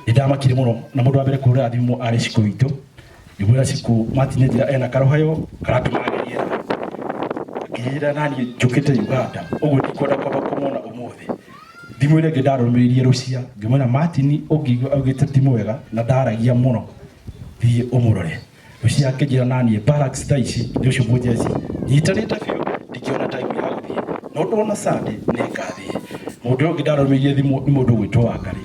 ndamakire muno na mundu wa mbere kuhurira thimu arĩ ciku witũ ngĩmwĩra ciku matinye njĩra ena karohayo karatũma agerie ngĩyĩra naniĩ njũkĩte uganda ũguo ndikwenda kwamba kũmwona ũmũthĩ thimũ ĩrĩa ĩngĩ ndarũmĩrĩirie rũcia ngĩmwĩra matini ũngĩigua augĩte ti mwega na ndaragia mũno thiĩ ũmũrore Lucia akĩnjĩra naniĩ barracks ta ici nĩ ũcio mũnjeci nyitanĩte biũ ndingĩona time ya gũthiĩ no ndona Sunday nĩ ngathiĩ mũndũ ũyũ ũngĩ ndarũmĩirie thimũ nĩ mũndũ ũgwĩtwo Wangari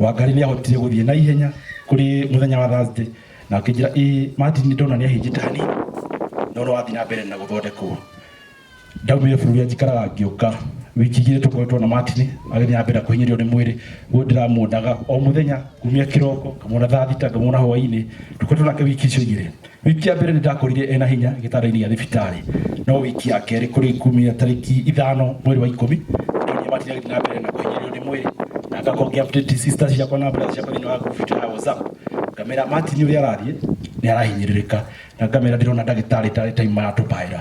Wangari nĩ ahotire gũthiĩ na ihenya kũrĩ mũthenya wa Thursday na akĩnjĩra ĩ Martin nĩ ndona nĩ ahĩnjĩte hanini no nĩ wathiĩ na mbere na gũthondekwo ndaumire bũrũri anjikaraga ngĩũka wiki igĩrĩ tũkoretwo na matini agĩthiĩ na mbere kũhinyĩrĩrio nĩ mwĩrĩ ũyũ ndĩramuonaga o mũthenya kumia kĩroko ngamwona thaa thita ngamwona hwainĩ tũkoretwo nake wiki icio igĩrĩ wiki ya mbere nĩ ndakorire ena hinya gĩtanda-inĩ gĩa thibitarĩ no wiki ya kerĩ kũrĩ kumia tarĩki ithano mweri wa ikũmi ndonire matini agĩthiĩ na mbere na kũhinyĩrĩrio nĩ mwĩrĩ na ngakorwo ngĩ update sister ciakwa na brother ciakwa thĩinĩ wa group itũ ya whatsapp ngamera matini ũrĩa arathiĩ nĩ arahinyĩrĩrĩka na ngamera ndĩrona ndagĩtarĩ tarĩ time maratũbaĩra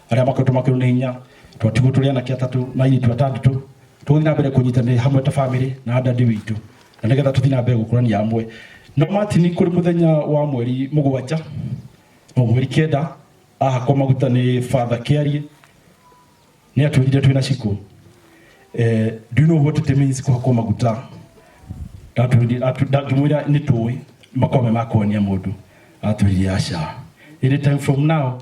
arĩa makoretwo makĩrwo nĩ hinya twatigwo tũrĩ anake atatũ na airĩtu atandatũ tũgũthiĩ na mbere kũnyitanĩra hamwe ta bamĩrĩ na dadi witũ na nĩgetha tũthiĩ na mbere gũkũrania hamwe no matini kũrĩ mũthenya wa mweri mũgwanja o mweri kenda ahakwo maguta nĩ father kĩarie nĩ atwĩrire twĩ na cikũ eh, do you know what it means kũhakwo maguta ndangĩmwĩra nĩ tũĩ makome ma kuonia mũndũ atwĩrire aca any time from now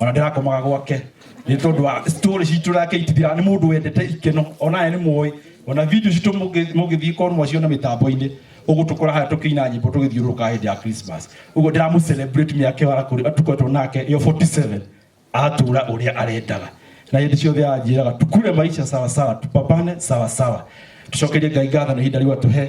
ona ndĩrakomaga gwake nĩ tondũ wa story citũ nake itithira nĩ mũndũ wendete ikeno ona ye nĩ mũĩ ona video citũ mũngĩ- mũngĩthiĩ korwo mwaciona mĩtambo-inĩ ũgũtũkora haya tũkĩina nyĩmbo tũgĩthiũrũrũka hĩndĩ ya christmas ũguo ndĩramũ celebrate mĩaka ĩyo arakũrĩ atukoretwo nake ĩyo 47 atũra ũrĩa arendaga na hĩndĩ ciothe anjĩraga tukure maisha sawasawa tupambane sawasawa tucokerie ngai ngatho na ihinda rĩu atũhe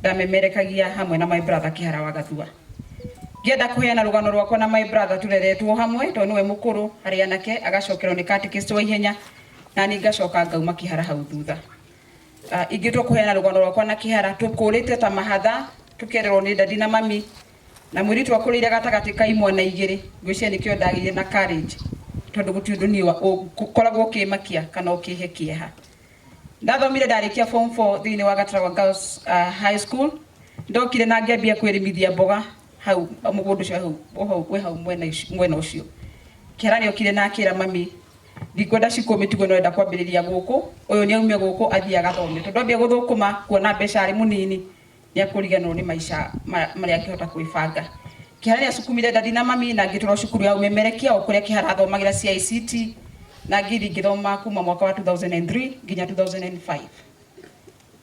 Ndamemerekagia hamwe na my brother Kĩhara wa Gathua. Ngĩenda kũheana rũgano rwakwa na my brother tũreretwo hamwe tondũ nĩwe mũkũrũ harĩ anake, agacokerwo nĩ catechist wa ihenya, nani ngacoka ngauma Kĩhara hau thutha. Ah, Ingĩtua kũheana rũgano rwakwa na Kĩhara, tũkũrĩte ta mahatha, tũkĩererwo nĩ ndadi na mami, na mũirĩtu akũrĩire gatagatĩ ka imwana igĩrĩ, ngwĩciria nĩkĩo ndagĩire na courage tondũ gũtirĩ ũndũ niĩ wa- ũ- ngoragwo ũkĩmakia kana ũkĩhe kĩeha. Ndathomire ndarĩkia form 4 thĩinĩ wa Gatarawa Girls uh, High School. Ndokire na ngĩambia kwĩrĩmithia mboga hau mũgũnda ũcio hau o hau wĩ hau mwena ũcio- mwena ũcio. Kĩara nĩokire na akĩra mami ndikwenda cikũ mĩtugo no enda kwambĩrĩria gũkũ, ũyũ nĩ aume gũkũ athiĩ agathome tondũ ambia gũthũkũma kuona mbeca arĩ mũnini Nĩekũriganĩrwo nĩ maica marĩa angĩhota kwĩbanga. Kĩhara rĩrĩa cukumire ndandi na mami na ngĩtwarwo cukuru ya ũmemerekia o kũrĩa Kĩhara athomagĩra CICT na ngĩthiĩ ngĩthoma kuma mwaka wa 2003 nginya 2005.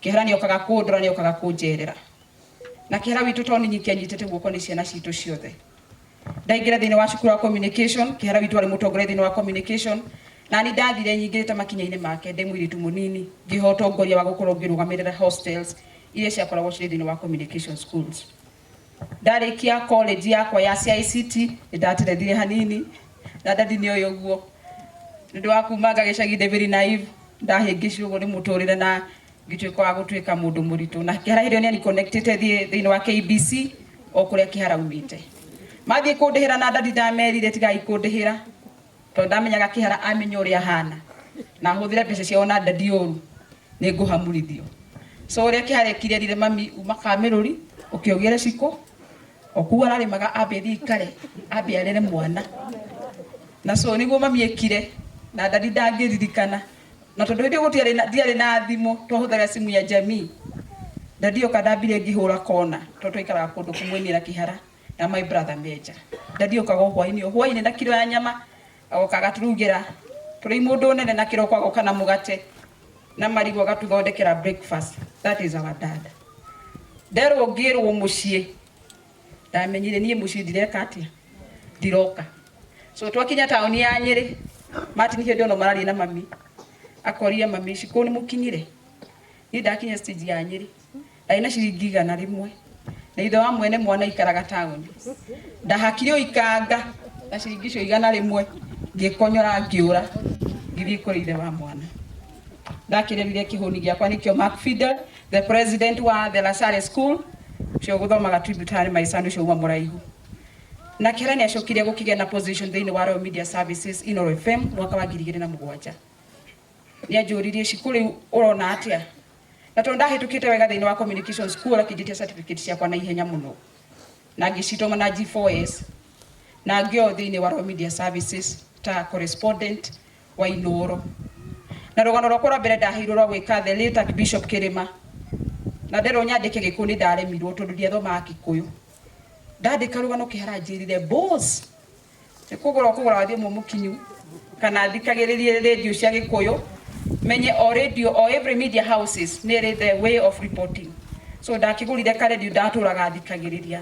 Kĩhara nĩokaga kũndora, nĩokaga kũnjerera. Na Kĩhara witũ to ninyiki anyitĩte guoko nĩ ciana citũ ciothe. ndaingĩra thĩinĩ wa cukuru wa communication kĩhara witũ warĩ mũtongoria thĩinĩ wa communication nani ndathire nyingĩrĩte makinya-inĩ make ndĩ mũirĩtu mũnini ngĩha ũtongoria wa gũkorwo ngĩrũgamĩrĩra hostels iria ciakoragwo cirĩ thĩinĩ wa communication schools ndarĩkia college yakwa ya CICT nĩndaterethire hanini na ndathi nĩ ũyũ ũguo nĩ ũndũ wa kumanga gĩcagi ndĩ very naive ndahĩngĩcirwo ũguo nĩ mũtũrĩre na Ngĩtuĩka wa gũtuĩka mũndũ mũritũ na kĩhara hĩndĩ ĩyo nĩ aniconnectĩte thiĩ thĩinĩ wa KBC o kũrĩa kĩhara umĩte mathiĩ kũndĩhĩra na ndandi ndamerire tigai kũndĩhĩra tondũ ndamenyaga kĩhara amenya ũrĩa hana na hũthĩre mbeca ciao na ndandi ũru nĩ ngũhamurithio so ũrĩa kĩhara ekire rire mami uma kamĩrũri ũkĩogere ciko okuo ararĩmaga ambe thiĩ ikare ambe arere mwana na so nĩguo mami ekire na ndandi ndangĩririkana Na tondũ hĩndĩ ĩyo gũtiarĩ na, ndiarĩ na thimũ, twahũthagĩra simu ya jamii. Daddy oka ndambire ngĩhũra kona, tondũ twaikaraga kũndũ kũmwe niĩ na Kĩhara na my brother me nja. Daddy okaga o hwainĩ, o hwainĩ na kiro ya nyama, agoka agaturugĩra tũrĩ imũndũ nene na kĩroko agoka na mũgate na marigũ agatuthondekera breakfast. That is our dad. Nderwo ngĩrwo mũciĩ. ndamenyire niĩ mũciĩ ndireka atia ndiroka so twakinya taoni ya nyĩrĩ martin hĩndĩ ono mararie na mami akorire mami ici kũu nĩ mũkinyire niĩ ndakinya stage ya nyĩrĩ ndarĩ na ciringi igana rĩmwe na ithe wa mwene mwana ikaraga taoni ndahakire ũikanga na ciringi icio igana rĩmwe ngĩkonyora ngĩũra ngĩthiĩ kũrĩ ithe wa mwana ndakĩrerire kĩhũni gĩakwa nĩkĩo Mark Fidel The president wa The La Salle School cio gũthomaga Tributary my son ũcio uma mũraihu na kĩra nĩ acokire gũkĩgĩa na position thĩinĩ wa Royal Media Services Inoro FM mwaka wa ngiri igĩrĩ na mũgwanja nĩ anjũririe cikũ rĩu ũrona atĩa na tondũ ndahĩtũkĩte wega thĩinĩ wa communication school akĩnjĩtia certificate ciakwa na ihenya mũno na ngĩcitũma na G4S na ngĩo thĩinĩ wa Royal Media Services ta correspondent wa ithũũro. Na rũgano rwakwa rwa mbere ndaheirwo rwa gwĩka the late Archbishop Kĩrĩma, na nderwo nyandĩke Gĩkũyũ nĩ ndaremirwo tondũ ndiathomaga Gĩkũyũ. Ndandĩka rũgano kĩhara anjĩrire boss nĩ kũgũra ũkũgũra wa thimũ mũkinyu kana thikagĩrĩrie radio cia Gĩkũyũ menye o radio o every media houses nĩ ĩrĩ the way of reporting. So ndakĩgũrire ka radio ndatũraga thikagĩrĩria.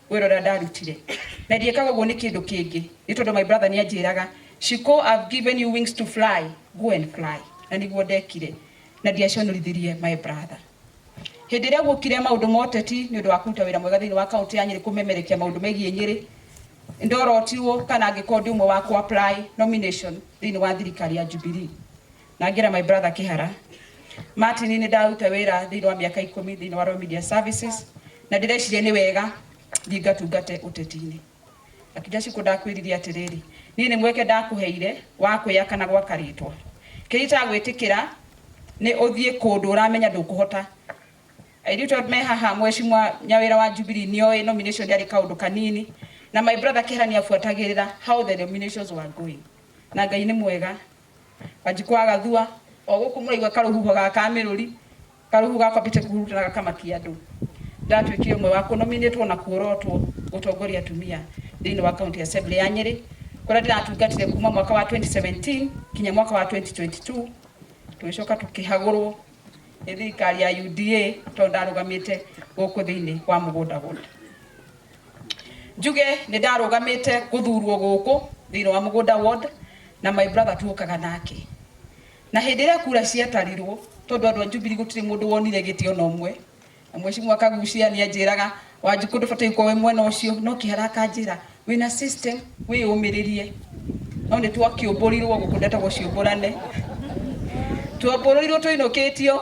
wĩra ũrĩa ndarutire na ndiĩkaga ũguo nĩ kĩndũ kĩngĩ nĩ tondũ my brother nĩ anjĩraga Shiko I've given you wings to fly go and fly na nĩguo ndekire na ndiaconorithirie my brother hĩndĩ ĩrĩa guokire maũndũ ma ũteti nĩ ũndũ wa kũruta wĩra mwega thĩinĩ wa kaunti ya Nyĩrĩ kũmemerekia maũndũ megiĩ Nyĩrĩ ndorotirwo kana angĩkorwo ndĩ ũmwe wa kũ apply nomination thĩinĩ wa thirikari ya Jubilee Na ngĩra my brother Kĩhara, ma atĩ niĩ nĩ ndaruta wĩra thĩinĩ wa mĩaka ikũmi thĩinĩ wa Royal Media Services, na ndĩreciria nĩ wega thiĩ ngatungate ũteti-inĩ. Akĩnjĩra Ciku ndakwĩrire atĩrĩrĩ, niĩ nĩ mweke ndakũheire wa kwĩyaka na gwaka rĩtwa. Kĩrĩa itagwĩtĩkĩra nĩ ũthiĩ kũndũ ũramenya ndũkũhota. Airĩtu aya me haha mwecimwa nyawĩra wa Jubilee nĩ oĩ nomination ndĩarĩ kaũndũ kanini, na my brother Kĩhara nĩ abuatagĩrĩra how the nominations were going. Na Ngai nĩ mwega. Wanjikũ agathua o gũkũ mũraigua karũhuho ga kamĩrũri, karũhuho ga kwambĩte kũhurutana gakamakia andũ. Ndatuĩkire ũmwe wa kũnominĩtwo na kuorotwo gũtongoria atumia thĩinĩ wa County Assembly ya Nyĩrĩ kũrĩa ndĩratungatire kuma mwaka wa 2017 kinya mwaka wa 2022 tũgĩcoka tũkĩhagũrwo nĩ thirikari ya UDA tondũ ndarũgamĩte gũkũ thĩinĩ wa mũgũnda gũkũ njuge nĩ ndarũgamĩte gũthurwo gũkũ thĩinĩ wa mũgũnda ward na my brother tuokaga nake na hĩndĩ ĩrĩa kura ciatarirwo tondũ andũ a Jubilee gũtirĩ mũndũ wonire gĩtĩ ona ũmwe Mwĩcimwa Kagucia nĩanjĩraga, Wanjikũ ndũbataire gũkorwo wĩ mwena ũcio, no Kĩhara akanjĩra, wĩna system, wĩyũmĩrĩrie. No nĩtwakĩũmbũrirwo, gũkũ ndetagwo ciũmbũrane. Twombũrĩirwo tũinũkĩtio,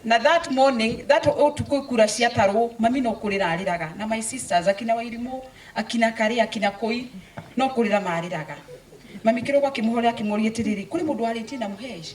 na that morning, that ũtukũ kura ciatarwo, mami no kũrĩra arĩraga, na my sisters, akina Wairimũ, akina Karĩ, akina Kũi, no kũrĩra marĩraga. Mami kĩroko akĩmũhorera akĩmoria atĩrĩrĩ, kũrĩ mũndũ warĩtie na Mũhesh?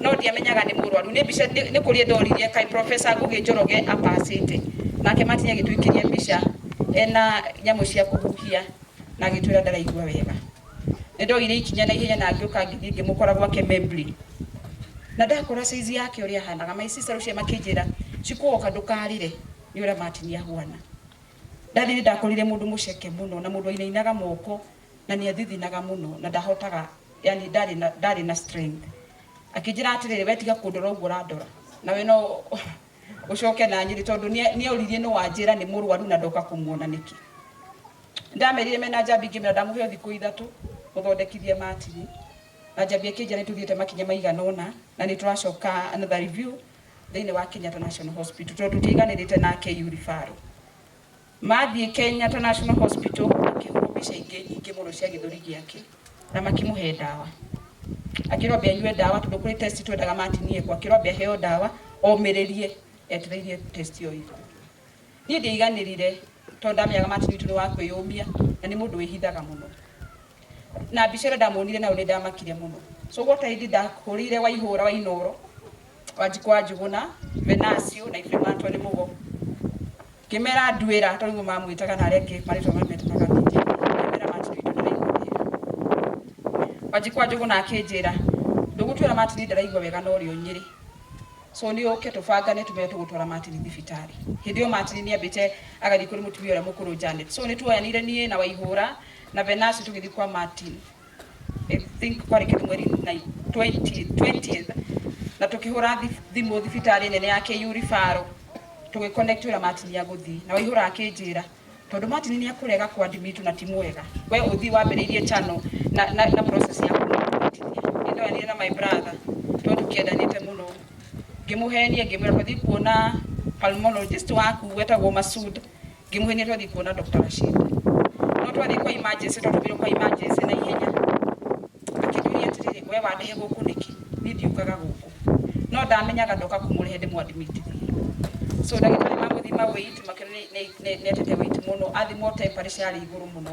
No ndiamenyaga nĩ mũrwaru. Nĩ mbica nĩ kũria ndorire kaĩ Professor Ngũgĩ Njoroge apacĩte. Nake Martin agĩtwĩkĩria mbica ena nyamũ cia kũhuhia na agĩtwĩra ndaraigua wega. Nĩ ndoire ikinya na ihenya na ngĩũka ngĩthiĩ ngĩmũkora gwake Membley. Na ndakora size yake ũrĩa ahanaga, my sister Lucia makĩnjĩra, Chikũwoka ndũkarĩre nĩ ũrĩa Martin ahuana. Daddy nĩ ndakorire mũndũ mũceke mũno na mũndũ wainainaga moko na nĩathithinaga mũno na ndahotaga yani ndarĩ na ndarĩ na strength akĩnjĩra atĩrĩrĩ we tiga kũndora ũguo ũrandora nawe no ũcoke na nyĩrĩ tondũ nĩa- nĩaũririe nĩ wanjĩra nĩ mũrwaru na ndoka kũmuona nĩkĩ ndamerire mena njambi ngĩmera ndamũhe o thikũ ithatũ mũthondekithie matiri na njambi akĩnjĩra nĩ tũthiĩte makinya maigana ũna na nĩ tũracoka another review thĩinĩ wa Kenyatta National Hospital tondũ tũtiaiganĩrĩte na KU referral Mathiĩ Kenyatta National Hospital makĩhũrwo mbica ingĩ ingĩ mũno cia gĩthũri gĩake na makĩmũhe ndawa. Akĩrwo ambe anyue ndawa tondũ kũrĩ test twendaga matinie ekwo. Akĩrwo ambe aheo ndawa omĩrĩrie etereire test ĩyo ĩthire. Niĩ ndiaiganĩrire tondũ ndamenyaga Martin witũ nĩ wa kwĩyũmia na nĩ mũndũ wĩhithaga mũno. na mbica ĩrĩa ndamuonire nayo nĩ ndamakire mũno so what I did ndahũrĩire waihũra wa inoro wanjikũ wa njuguna venasio na ibrima antwa nĩ mũgo ngĩmera nduĩra tondũ nĩguo mamwĩtaga na arĩa angĩ marĩtwa mametaga mĩtĩ ngĩmera matiri ndaraigua wega wanjikũ wa njuguna akĩnjĩra ndũgũtwĩra matiri ndaraigua wega no rĩo nyĩrĩ so nĩ ũke tũbangane tũmere tũgũtwara matiri thibitarĩ hĩndĩ ĩyo matiri nĩ ambĩte agathiĩ kũrĩ mũtumia ũrĩa mũkũrũ Janet so nĩ tuoyanire niĩ na waihũra na Venasi tũgĩthiĩ kwa Martin I think kwarĩ kĩndũ mweri na 20 20th na tũkĩhũra thi- thimũ thibitarĩ nene ya KU ribaro tũgĩconnect wĩra Martin ya gũthiĩ na waihũra akĩnjĩra tondũ Martin nĩ akũrega kwa Ndimitu na ti mwega we ũthiĩ wambĩrĩirie channel na, na, na process ya kũmũnyitithia nĩndoranire na my brother tondũ tũkĩendanĩte mũno ngĩmũhenia ngĩmwĩra twathiĩ kuona pulmonologist waku wetagwo Masud Ngĩmũhenia twathiĩ kuona Dr. Rashid. No twathiĩ kwa emergency, twatũmirwo kwa emergency na ihenya. Akĩnjũria atĩrĩrĩ, we wandehe gũkũ nĩkĩ? Niĩ ndiũkaga gũkũ. No ndamenyaga ndoka kũmũrehe ndĩmwadmitithie. So ndagĩtarĩ mamũthima weight makĩona nĩ- nĩ- nĩ- nĩatete weight mũno, athimwo temperature yarĩ igũrũ mũno.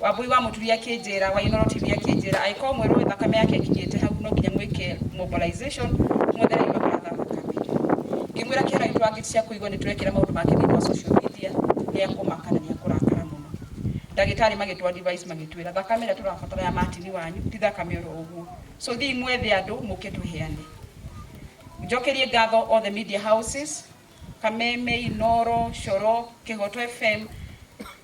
Wambũi wa mũtumia akĩnjĩra, wa Inooro TV akĩnjĩra, angĩkorwo mwerwo thakame yake ĩkinyĩte hau no nginya mwĩke mobilization mwethere andũ maratha thakame. Ngĩmwĩra kĩara gitũ angĩ cia kũigwa nĩ tũrekĩra maũndũ make thĩinĩ wa social media nĩ ekũmaka na nĩ ekũrakara mũno. Ndagĩtarĩ magĩtũ advise magĩtwĩra thakame ĩrĩa tũrabatara ya Martin wanyu ti thakame oro ũguo. So thiĩi mwethe andũ mũke tũheane. Njokerie ngatho all the media houses. Kameme, Inooro, Coro, Kĩhooto FM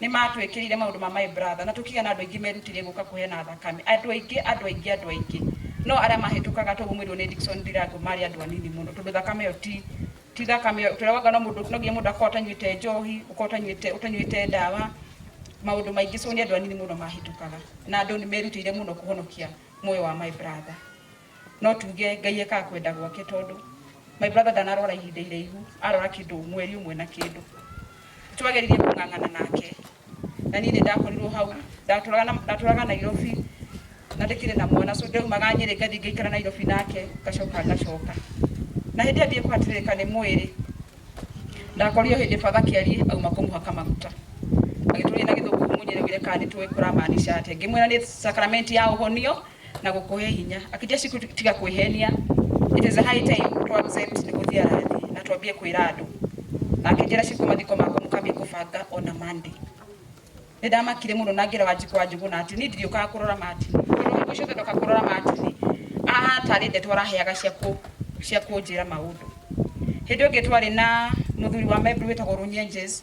nĩ matwĩkĩrĩire maũndũ ma my brother na tũkĩgĩa na andũ aingĩ merutĩire gũka kũheana thakame. Andũ aingĩ, andũ aingĩ, andũ aingĩ. No arĩa mahĩtũkaga toguo mwĩrirwo nĩ Dickson Ndirangũ marĩ andũ anini mũno tondũ thakame ĩyo ti ti thakame ĩyo tũraugaga no mũndũ no nginya mũndũ akorwo ũtanyuĩte njohi, ũkorwo ũtanyuĩte ũtanyuĩte ndawa, maũndũ maingĩ so nĩ andũ anini mũno mahĩtũkaga. Na andũ nĩ merutĩire mũno kũhonokia muoyo wa my brother. No tuge Ngai ekaga kwenda gwake tondũ my brother ndanarwara ihinda iraihu, arwara kĩndũ mweri ũmwe na kĩndũ. Nĩ twageririe kũng'ang'ana nake na niĩ nĩ ndakorirwo hau, ndatũraga na ndatũraga Nairobi na ndĩkĩrĩ na mwana so ndaumaga Nyĩrĩ ngathiĩ ngaikara Nairobi nake ngacoka ngacoka. Na hĩndĩ ĩyo ndiekũhatĩrĩrĩka nĩ mwĩrĩ, ndakorire o hĩndĩ father Kĩari auma kũmũhaka maguta agĩtũria na gĩthũngũ mũnjĩre ũire kana nĩ tũĩ kũramaanisha atĩa. Ngĩmwĩra nĩ sacrament ya ũhonio na gũkũhe hinya. Akĩnjia Ciku tiga kwĩhenia, it is high time twabuze nĩ gũthiĩ arathi na twambie kwĩra andũ. Na akĩnjĩra Ciku mathiko makwa mũkambie kũbanga ona Monday. Nĩ ndamakire mũno na ngĩra Wanjikũ wa Njũgũna atĩ niĩ ndirĩũkaga kũrora Martin. Tondũ hingo ciothe ndoka kũrora Martin, ahana tarĩ ndeto araheaga cia kũ- cia kũnjĩra maũndũ. Hĩndĩ ĩngĩ twarĩ na mũthuri wa Meru wĩtagwo Runyenjes,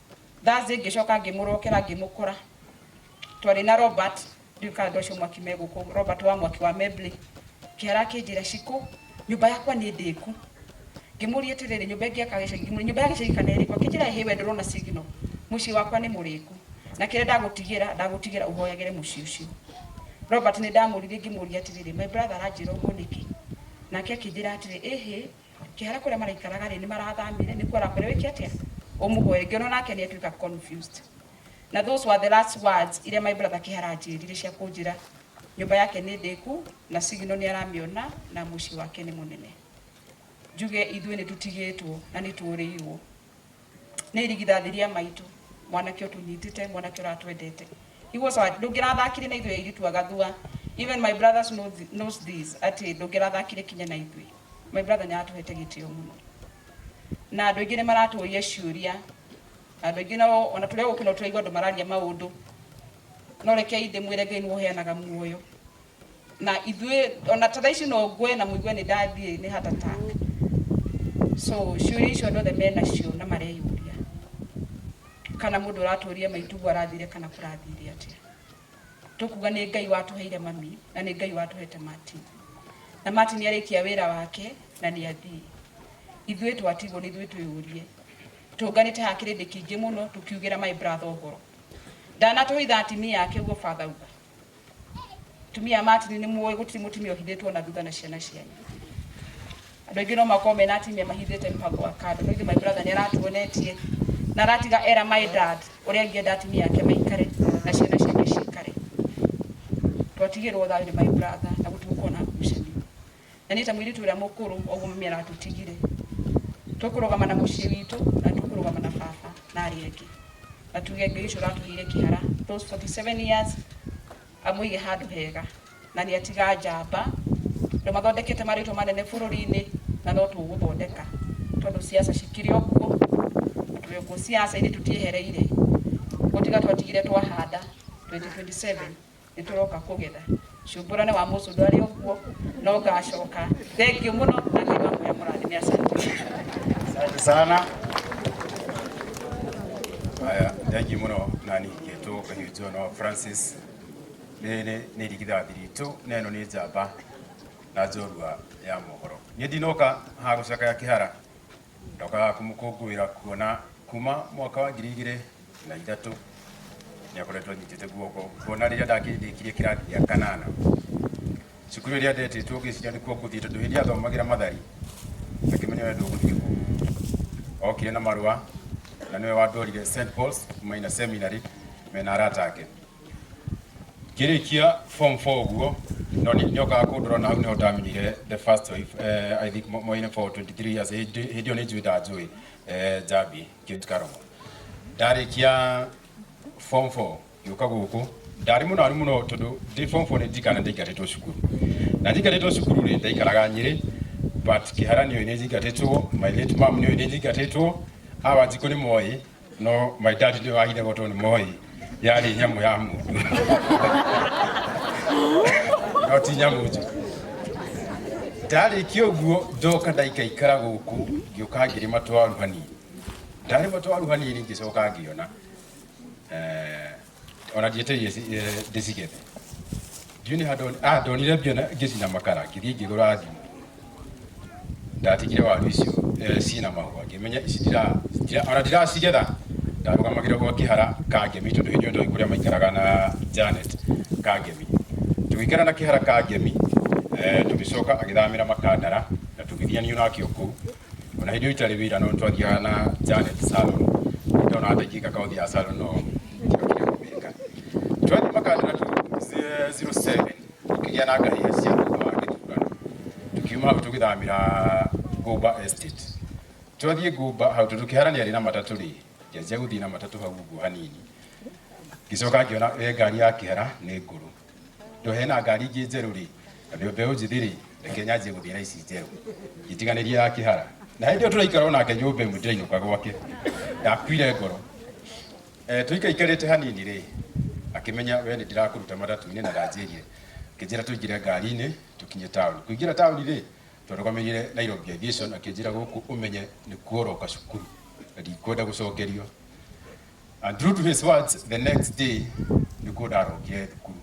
Thursday ngĩcoka ngĩmũrokera ngĩmũkora twarĩ na Robert ndiũ kana andũ acio mwaki me gũkũ Robert wa mwaki wa Mebley kĩara akĩnjĩra cikũ nyũmba yakwa nĩ ndĩku ngĩmũria atĩrĩrĩ nyũmba ĩngĩ yaka gĩcagi ngĩmũria nyũmba ya gĩcagi kana ĩrĩkũ akĩnjĩra ĩhĩ we ndũrona signal mũciĩ wakwa nĩ mũrĩku na kĩrĩa ndagũtigĩra ndagũtigĩra ũhoyagĩre mũciĩ ũcio Robert nĩ ndamũririe ngĩmũria atĩrĩrĩ my brother aranjĩra ũguo nĩkĩ nake akĩnjĩra atĩrĩ ĩhĩ Kĩhara kũrĩa maraikaraga rĩ nĩmarathamire nĩkuo arakwĩra wĩke atĩa ũmũhoere ngĩona onake nĩatuĩka confused na those were the last words iria my brother Kĩhara anjĩrire cia kũnjĩra nyũmba yake nĩ ndĩku na signal nĩaramĩona na mũciĩ wake nĩ mũnene njuge ithuĩ nĩtũtigĩtwo na nĩtũrĩirwo. Nĩ irigithathi rĩa maitũ. Mwanake ũtũnyitĩte, mwanake ũratwendete. Nĩguo sawa, ndũngĩrathakire na ithuĩ airĩtu a gathua. Even my brothers know thi- knows this, atĩ ndũngĩrathakire kinya na ithuĩ. My brother nĩ aratũhete gĩtĩo mũno. Na andũ aingĩ nĩ maratũũria ciũria. Na andũ aingĩ nao, ona tũrĩ o gũkũ no tũraigua andũ mararia maũndũ. No rekei ndĩmwĩre Ngai nĩwe ũheanaga muoyo. na ithuĩ ona ta thaa ici no ngwe na mũigue nĩ ndathiĩ nĩ heart attack so ciũria icio andũ othe menacio na mareyũria kana mũndũ ũratũria maitugu arathire kana kũrathire atĩa tũkuga nĩ ngai watũheire mami na nĩ ngai watũhete martin na martin arĩkia wĩra wake na nĩ athiĩ ithuĩ twatigwo nĩ ithuĩ twĩyũrie tũnganĩte ha kĩrĩndĩ kĩingĩ mũno tũkiugĩra my brother ũhoro ndanatũhitha atimia ake guo father uga Atumia a Martin nĩ mũĩ gũtirĩ mũtumia ũhithĩtwo na thutha na ciana cianyu. Andũ aingĩ no makorwo mena atumia mahithĩte mũbango wa kando. No ithe my brother nĩ aratuonetie na aratiga era my dad ũrĩa angĩenda atumia ake maikare na ciana ciake cikare. Twatigĩrwo thayũ nĩ my brother na gũtigũkorwo na ngucanio. Na niĩ ta mũirĩtu ũrĩa mũkũrũ ũguo mami aratũtigire, tũkũrũgama na mũciĩ witũ na tũkũrũgama na baba na arĩa angĩ. Na tuge Ngai ũcio ũratũheire kĩhara those 47 years amũige handũ hega. Na nĩ atiga njamba, andũ mathondekete marĩtwa manene bũrũri-inĩ na no tũgũthondeka tondũ ciaca cikĩrĩ o kuo na tũrĩ o kuo. Ciaca-inĩ tũtiehereire, gũtiga twatigire twahanda 2027. nĩ tũroka kũgetha cumbũra nĩ wa mũcũ ndwarĩ ũguo no ngacoka thengiũ mũno na ngai wa mũya mũrathime asante Asante sana. Haya, thank you muno nani kitu kahiujo no Francis. Nene ni rigitha thiritu neno ni njamba na njorua ya mohoro. Ni ndinoka ha gucaka ya kihara. Ndokaga kũmũkũngũĩra kuona kuma mwaka wa ngiri igĩrĩ na ithatũ nĩ akoretwo anyitĩte guoko kuona rĩrĩa ndakĩrĩkirie kĩrathi gĩa kanana cukuru ĩrĩa ndetĩtwo ngĩciria nĩkuo ngũthiĩ tondũ hĩndĩ ĩrĩa athomagĩra mathari ngakĩmenya we ndũgũthiĩ kũu okire na marũa na nĩwe wandwarire St Paul's Minor Seminary mena arata ake ngĩrĩkia form 4 ũguo no nĩ nĩ okaga kũndora na hau nĩho ndamenyire the first wife eh, i think moine for 23 years hĩndĩ hĩndĩ ĩyo nĩ njui ndanjũĩ eh, njambi kĩtikaromo ndarĩkia form 4 gĩũka gũkũ ndarĩ mũno aru mũno tondũ ndĩ form 4 nĩ ndikana ndaingatĩtwo cukuru na ndingatĩtwo cukuru rĩ ndaikaraga nyĩrĩ but kĩharanio nĩ njingatĩtwo my late mom nĩ nĩ njingatĩtwo awa njikũ nĩ moĩ No my dad ndio aire goto ni moi. Yari nyamu ya mu. No ti nyamu ju. Ndari kioguo ndoka ndaika ikara guku ngioka ngiri matwaru hanini. Ndari matwaru hanini ngicoka ngiona. Eh o na ndiĩte ndĩcigethe ndiunĩ handũ ndonire mbia ngĩcina makara ngĩthiĩ ngĩgũra thimũ ndatigire waru icio ciĩna mahũa ngĩmenya ici ona ndiracigetha ndarũgamagĩra gwa kĩhara kangemi tondũ hĩndĩ ĩyo ndoĩ kũrĩa maikaraga na Janet kangemi tũgĩikara na kĩhara kangemi tũgĩcoka agĩthamĩra makandara na tũgĩthianio nake o kũu ona hĩndĩ ĩyo itarĩ wĩra no twathiaga na Janet salon Nĩ ndona hata ingĩka kaũthi ya salon no ndĩokire kũmĩka twathiĩ makandĩra tu 07 tũkĩgĩa na ngari cia thutha wa gĩthurano tukiuma hau tũgĩthamĩra Gomba Estate twathiĩ Gomba hau tondũ kĩharania rĩ na matatũ rĩ ngĩanjia gũthiĩ na matatũ hau ũguo hanini ngĩcoka ngĩona we ngari ya kĩhara nĩ ngũrũ ndohe na ngari ingĩ njerũ rĩ na ndio mbeũ njĩthĩ rĩ reke nyanjie gũthiĩ na ici njerũ itiganĩrie ya kĩhara na hĩndĩ ĩyo tũraikara onake nyũmba ĩmwe ndĩrainũka gwake ndakuire ngoro Eh, tũikaikarĩte hanini rĩ akĩmenya we nĩ ndĩrakũruta matatu-inĩ na ndanjĩrie akĩnjĩra tũingĩre ngari-inĩ tũkinye taũni kũingĩra taũni rĩ twarũgamĩrire Nairobi Aviation akĩnjĩra gũkũ ũmenye nĩ kuoroka cukuru na ndikwenda gũcokerio And true to his words, the next day nĩkuo ndarokire thukuru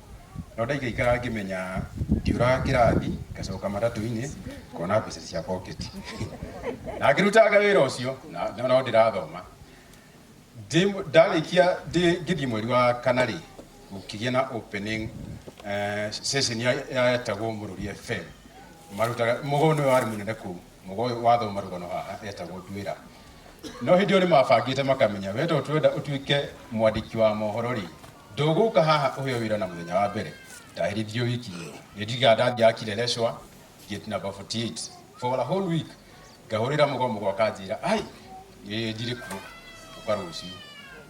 no ndaigaikara ngĩmenya ndiũraga kĩrathi ngacoka matatũ-inĩ ngona mbeca cia pocket na ngĩrutanga wĩra ũcio na na no ndĩrathoma Ndĩ- ndarĩkia ndĩ- ngĩthiĩ mweri wa kana rĩ gũkĩgĩa na opening eh, session ya- yetagwo mũrũri fm marutaga mũgo nĩ warĩ mũnene kũu mũgo ũyũ wathoma rũgano haha etagwo nduĩra no hĩndĩ ĩyo nĩ mabangĩte makamenya we to twenda ũtuĩke mwandĩki wa mohoro rĩ ndũgũka haha ũheo wĩra na mũthenya wa mbere ndahĩrĩthio wiki ĩyo nĩ ndiga ndangĩakire recwa gate number 48 for a whole week ngahũrĩra mũgomo gwakanjĩra ai nĩ ndirĩ kuo ũka rũciũ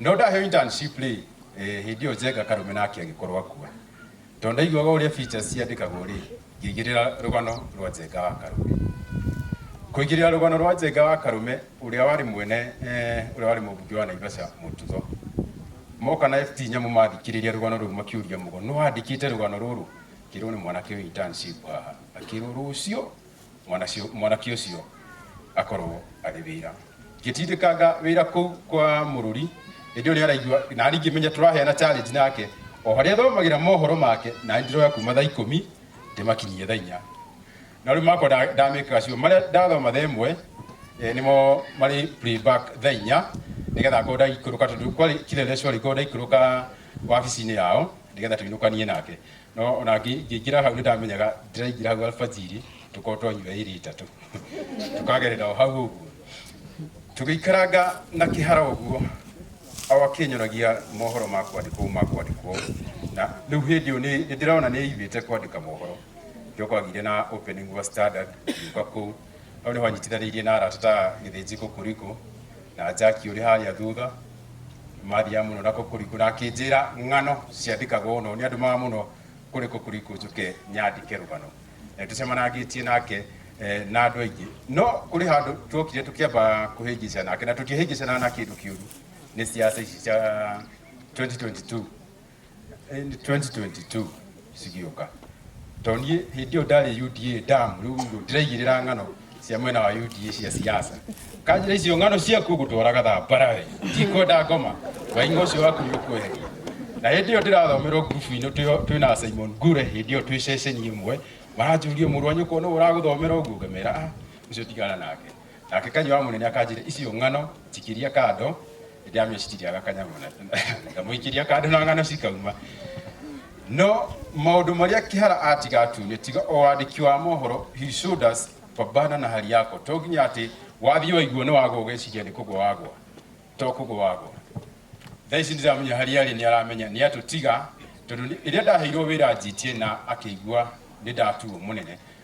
no ndaheo internship rĩ eh, hĩndĩ ĩyo njenga karũme nake agĩkorwo akua tondũ ndaiguaga ũrĩa features ciandĩkagwo rĩ ngĩigĩrĩra rũgano rwa njenga wa karũme kũigĩrĩra rũgano rwa njenga wa karũme ũrĩa warĩ mwene eh, ũrĩa warĩ mũmbunge wa naivasha mũtugo moka na ft nyamũ mathikĩrĩria rũgano rũu makiũria mũgo nĩwandĩkĩte rũgano rũrũ kĩrwo nĩ mwanake ũyũ internship haha akĩrwo rũciũ mwanacio- mwanake ũcio akorwo arĩ wĩra ngĩtindĩkanga wĩra kũu kwa mũrũri hĩndĩ ũrĩa araigua na ningĩ menya tũraheana challenge nake o harĩa thomagĩra mohoro make na ndiroya kuma thaa ikũmi ndĩmakinyie thaa inya na rĩu makwa nda- ndamĩkaga cio marĩa ndathoma thaa ĩmwe eh, nĩmo marĩ playback thaa inya nĩgetha ngorwo ndaikũrũka tondũ kwarĩ kire rĩa cori ngorwo ndaikũrũka wabici-inĩ yao nĩgetha tũinũkanie nake no o na ngĩ- ngĩingĩra hau nĩ ndamenyaga ndĩraingĩra hau alfajiri tũkorwo twanyua ĩrĩ itatũ tũkagerera o hau ũguo tũgĩikaranga na kĩhara ũguo o akĩnyonagia mohoro ma kwandĩkwo ma kwandĩkwo na rĩu hĩndĩ ĩyo nĩ- nĩ ndĩrona nĩ ĩigĩte kwandĩka mohoro njoka ngire na opening wa standard ngiuka kũu hau nĩ hwanyitithanĩirie na arata ta gĩthĩnjĩko kũriko na njaki ũrĩ harĩa thutha mathiaga muno na kukuriku na akinjira ng'ano ciandikagwo no ni andu maga muno kuri kukuriku njuke nyandike rugano Eh, tucemanagitie nake eh, na andu aingi no kuri handu twokire tukiamba kuhingica nake na tutihingicana na kindu kiuru ni ciaca ici cia 2022 in 2022 cigĩũka tondũ niĩ hĩndĩ ĩyo ndarĩ UDA ndamu rĩu rĩu ndĩraigĩrĩra ng'ano cia mwena wa UDA cia siasa kanjĩra icio ng'ano ciaku ngũtwaraga thambara we ndikwenda ngoma wainga ũcio waku nĩ ũkweheria na hĩndĩ ĩyo ndĩrathomerwo ngurubu-inĩ twĩ- twĩ na Simon Gure hĩndĩ ĩyo twĩ ceceni ĩmwe maranjũria mũrũ wa nyũkwa nũũ ũragũthomera ũguo ngamera "Ah, ũcio tigana nake Nake kanyua wa munene akanjire icio ng'ano cikiria kando ndiamecitiriaga kanyamũ na- ngamuikiria kando na ng'ano cikauma no maundu maria kihara atiga atumia tiga o wandiki wa mohoro he showed us pambana na hali yako to nginya ati wathii waiguo ni wagwa ugeciria ni kugwa wagwa to kugwa wagwa thaa ici ndiramenya harĩa arĩ nĩ aramenya nĩ atũtiga tondũ nĩ- rĩrĩa ndaheirwo wĩra njitie na akĩigua nĩ ndatuo mũnene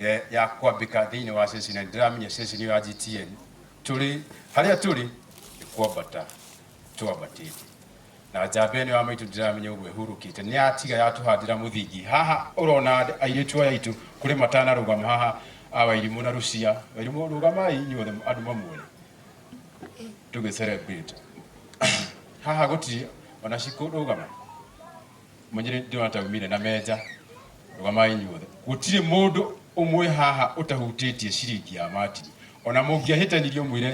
eh, ya kwambika thiini wa ceci na ndiramenya ceci niyo ya GTN turi haria turi ni kwambata twambatite na njamba ĩno ya maitũ ndiramenya ũguo ĩhurũkĩte nĩ yatiga yatũhandĩra mũthingi haha ũrona andũ- airĩtu aya aitũ kũrĩ matanarũgama haha a wairimũ na rucia wairimũ rũgamai inyuothe andũ mamuone tũgĩ celebrate haha gũtirĩ ona cikũrũgama Mũnjĩre ndĩrona ta umire na menja. Rũgamai inyuothe. Gũtirĩ mũndũ ũmwe haha ũtahutĩtie ciringi ya Martin. Ona mũngĩahĩtanirie ũmwĩre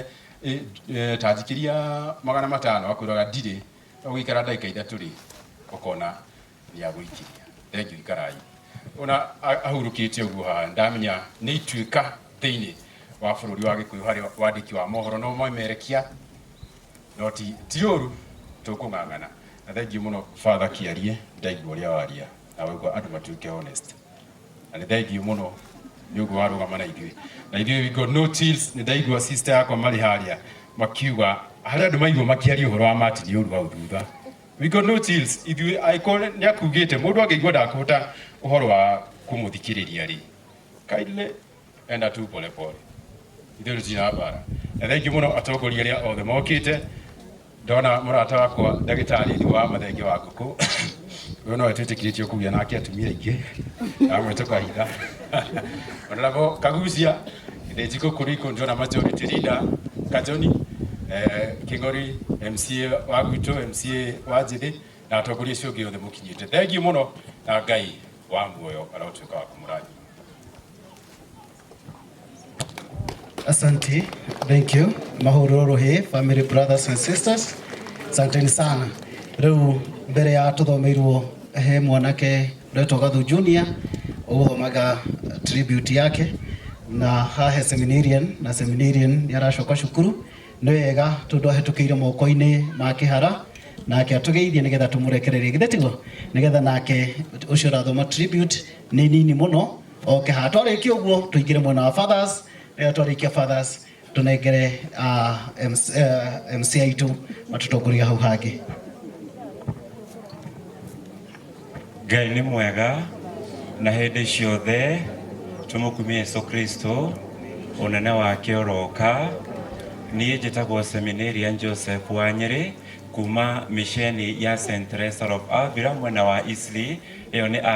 ta njikĩria magana matano akwĩraga ndirĩ, no gũikara ndagĩka ithatũ rĩ, ũkona nĩ agũikĩria. Thengiũ ikarai. Ona ahurũkĩte ũguo haha ndamenya nĩ ituĩka thĩinĩ wa bũrũri wa Gĩkũyũ harĩ wandĩki wa mohoro no moimerekia no ti ti ũru tũkũng'ang'ana na thengiũ mũno father kĩarie ndaigua ũrĩa waria na waigua andũ matuĩke honest na nĩ thengiũ mũno nĩ ũguo warũgama na ithuĩ na ithuĩ we got no chills nĩ ndaigua sister yakwa marĩ harĩa makiuga harĩ andũ maigua makĩaria ũhoro wa mati nĩ ũru hau thutha we got no chills ithuĩ angĩkorwo nĩ akugĩte mũndũ angĩigua ndakũhota ũhoro wa kũmũthikĩrĩria rĩ kindly enda tu pole pole ithuĩ tũtira mbara na thengiũ mũno atongoria arĩa othe mokĩte ndona mũrata wakwa ndagĩtarĩ wa mathenge wa ngũkũ ũyũ nowe twĩtĩkĩrĩtio kũgĩa nake atumia aingĩ amwe tũkahinga onarabo kagucia githĩnji kũkũrũ ikũ ndĩrona majority leader kajoni eh, kĩng'ori mca wa gwitũ mca wa njĩthĩ na atongoria acio ũngĩ othe mũkinyĩte thengiũ mũno na ngai wa muoyo arotwĩka wa kũmũrathima Asante, thank you. Mahururu hii, family brothers and sisters. Asanteni sana. Rĩu mbere ya tũthomeirwo he mwanake ũretwo Gathu Junior ũgũthomaga tribute yake na hahe seminarian na seminarian nĩ aracoka cukuru nĩ wega tondũ ahĩtũkĩire moko-inĩ ma kĩhara nake atũgeithie nĩgetha tũmũrekererie githĩ tiguo nĩgetha nake ũcio ũrathoma tribute nĩ nini mũno oke haha twarĩkia ũguo tũingĩre mwena wa fathers eh, twarĩkia fathers tũnengere ah, MC eh, MC aitũ matũtongoria hau hangĩ ngai nĩ mwega na hĩndĩ ciothe tũmũkumie yesu kristo ũnene wake ũroka niĩ njĩtagwo seminarian joseph wa nyĩrĩ kuma misheni ya st Teresa of avira mwena wa isli ĩyo nĩ a